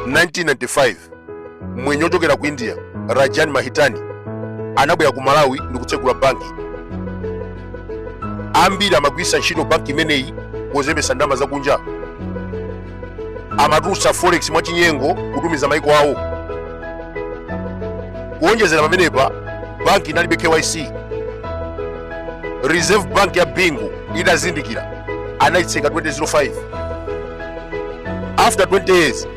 1995 mmwenye ochokera ku india rajan mahitani anabwera ku malawi ndi kutsegula banki ambiri amagwiritsa ntchito banki imeneyi pozembetsa ndalama zakunja amatulutsa forex mwachinyengo kutumiza maiko awo kuonjezera pamenepa banki inalibe kyc reserve bank ya bingu itazindikira anayitseka 2005 after 20 years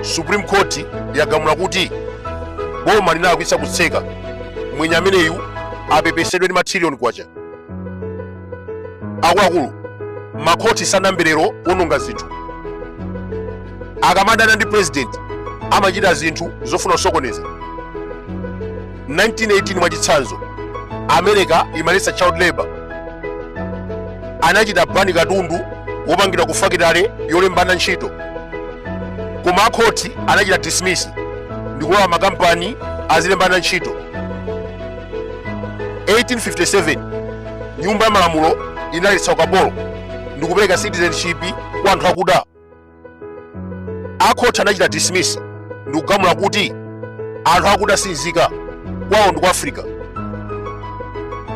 supreme court yagamula kuti boma linalakwitsa kutseka mmwenye ameneyu apepesedwe ndi matrilioni kwacha akuluakulu makhoti sanayambe lero kuononga zinthu akamadana ndi president amachita zinthu zofuna kusokoneza 1918 mwachitsanzo america imaletsa child labor anachita bani katundu wopangidwa ku fakitale yolemba ana ntchito koma akhoti anachita dismiss ndikulola makampani azilemba ana ntchito 1857 nyumba ya malamulo inaletsa ukapolo ndikupereka citizenship kwa anthu akuda akhoti anachita dismiss ndi kugamula kuti anthu akuda si nzika kwawo ndi ku africa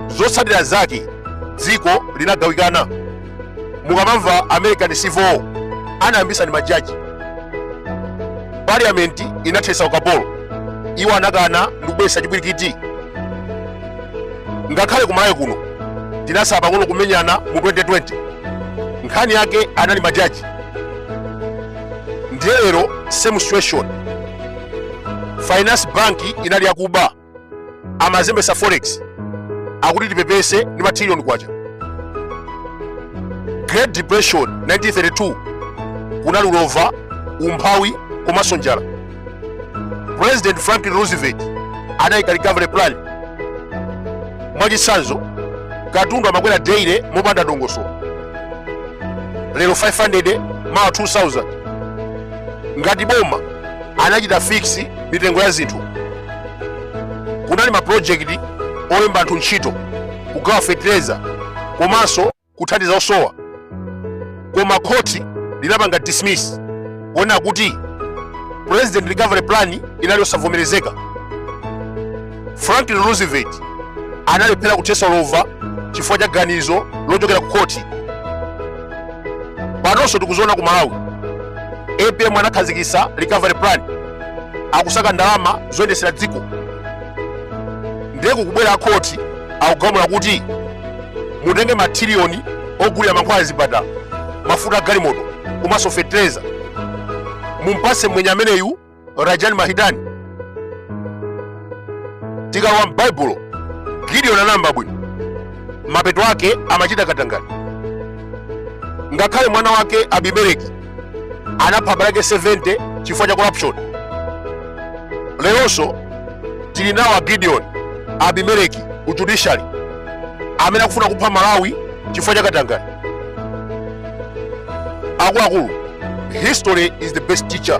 zotsatira zake dziko linagawikana mukamamva za american civil war anayambisa ndi majaji parliament inathetsa ukapolo iwo anakana ndi kubweretsa chipwirikiti ngakhale kumalawi kuno tinasala pang'ono kumenyana mu 2020 nkhani yake anali majaji ndiye lero same situation finance bank inali yakuba amazembesa forex akuti tipepese ndi matrillion kwacha great depression 1932 kunali ulova umphawi komanso njala president franklin roosevelt anayika recovery plan mwachitsanzo katundu amakwera daily mopanda dongosolo lero 500 mawa 2000 ngati boma anachita fix mitengo ya zinthu kunali mapulojekiti olemba anthu ntchito kugawa fertilizer komanso kuthandiza osowa koma khoti linapanga dismiss kuona kuti president recovery plan inali yosavomerezeka franklin roosevelt analephera kuthesa ulova chifukwa cha ganizo lochokera ku khoti panonso tikuziona ku malawi apm anakhazikitsa recovery plan akusaka ndalama zoyendetsera dziko ndiye kukubwera akhoti akugamula kuti mutenge mathiriyoni ogulira mankhwala a zipatala mafuta a galimoto komanso fetereza mumpase mmwenye ameneyu rajani mahitani tikalowa m'baibulo gideoni anayamba bwino mapeto ake amachita katangale ngakhale mwana wake abimeleki anapha abale ake 70 chifukwa cha corruption leronso tili nawo a gideon abimeleki ku judiciary amene akufuna kupha malawi chifukwa cha katangale akuluakulu history is the best teacher